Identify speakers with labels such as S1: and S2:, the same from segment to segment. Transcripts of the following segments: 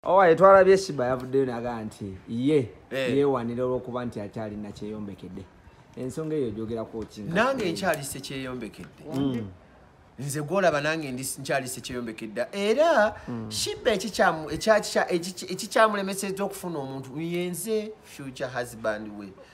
S1: owaye twalabye shiba yavuddeyo naga nti ye eh. yewanira olwokuba nti akyalina kyeyombekedde ensonga eyo gyogerako ki nange nkyali
S2: sekyeyombekedde mm. nze gwolaba nange nkyali sekyeyombekedde era mm. shiba ekikyamulemeseza okufuna omuntu yenze future husband we mm.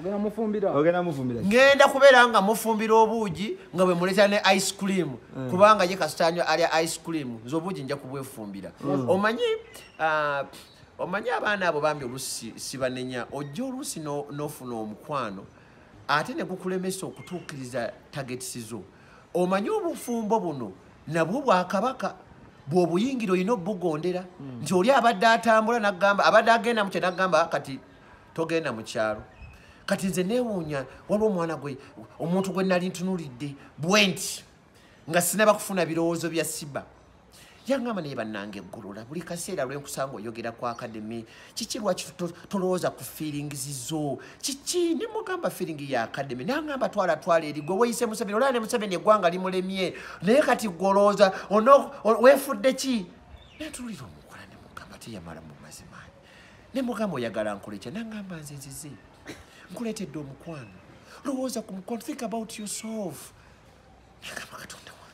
S2: ogenda mufumbira ogenda
S1: mufumbira ngenda kubera nga
S2: mufumbira obuugi nga bwe muleta ne ice cream mm. kubanga ye kastanyo ali ice cream nzo obuugi nja kubwefumbira mm. omanyi uh, omanyi abaana abo bambi olusi sibanenya ojja olusi nofuna no omukwano ate ne gukulemesa okutuukiriza tagets zo omanyi obufumbo buno nabwo bwakabaka bwobuyingira olina obugondera mm. nti oli abadde atambula nagamba abadde agenda mukye nagamba kati togenda mu kyalo kati nze neewuunya waliwo omwana gwe omuntu gwe nali ntunuulidde bwenti nga sinaba kufuna birowoozo bya siba yangamba naye bannange eggulula buli kaseera lwenkusanga oyogera ku akademi kiki lwaki tolowooza ku feelings zo kiki ne mugamba feeling ya akademi nangamba twala twala eri gwe weyise museveni olaba ne museveni eggwanga limulemye naye kati gwe olowooza weefudde ki naye tululira omukola ne mugamba teyamala mu mazimaanyi ne mugamba oyagala nkuleeta nangamba nze nzize nkuleetedde omukwano lowooza ku mukwano think about yourself nagamba katonda wa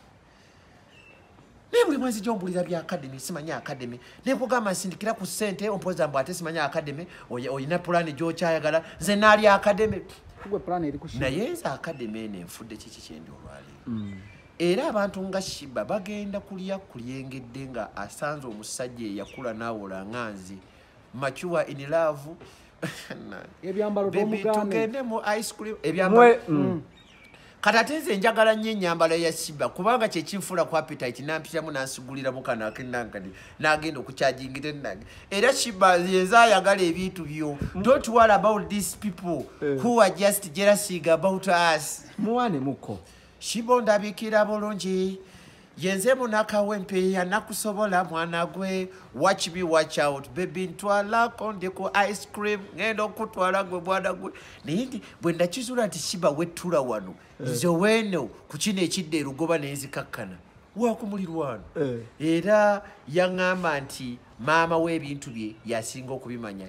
S2: naye buli mwezi gyombulira bya akademi simanya akademi nekugamba nsindikira ku sente ompoza mbu ate simanya akademi olina pulaani gyokyayagala nze naali akademi naye nze akademi eno enfudde kiki kyendi olwaleero mm. Era abantu nga Shiba bagenda kulya kulyengedde nga asanze omusajja eyakula nawola nga nze mature in love ebyambalo tugende mu ice cream ebyambalo mm. mm. kati ate nze njagala nnyo enyambala ya Shiba kubanga kyekinfuula ku appetite nampitamu nansigulira mukano akendankadi nagenda okukyajingira ennage era Shiba yenze ayagala ebintu byo mm. don't worry about these people eh. who are just jealousy about us muwane muko
S1: Shibo
S2: ndabikira bulungi yenze munakawe mpeya nakusobola mwana gwe watch me watch out baby ntwalako ndi ku ice cream ngenda okutwala gwe mwana gwe naye ndi bwe ndakizula nti shiba wettula wano eh. nze weno ku kino ekidda erugoba nenzikakkana wakumulirwano eh. era yaŋŋamba nti maama w'ebintu bye yasinga okubimanya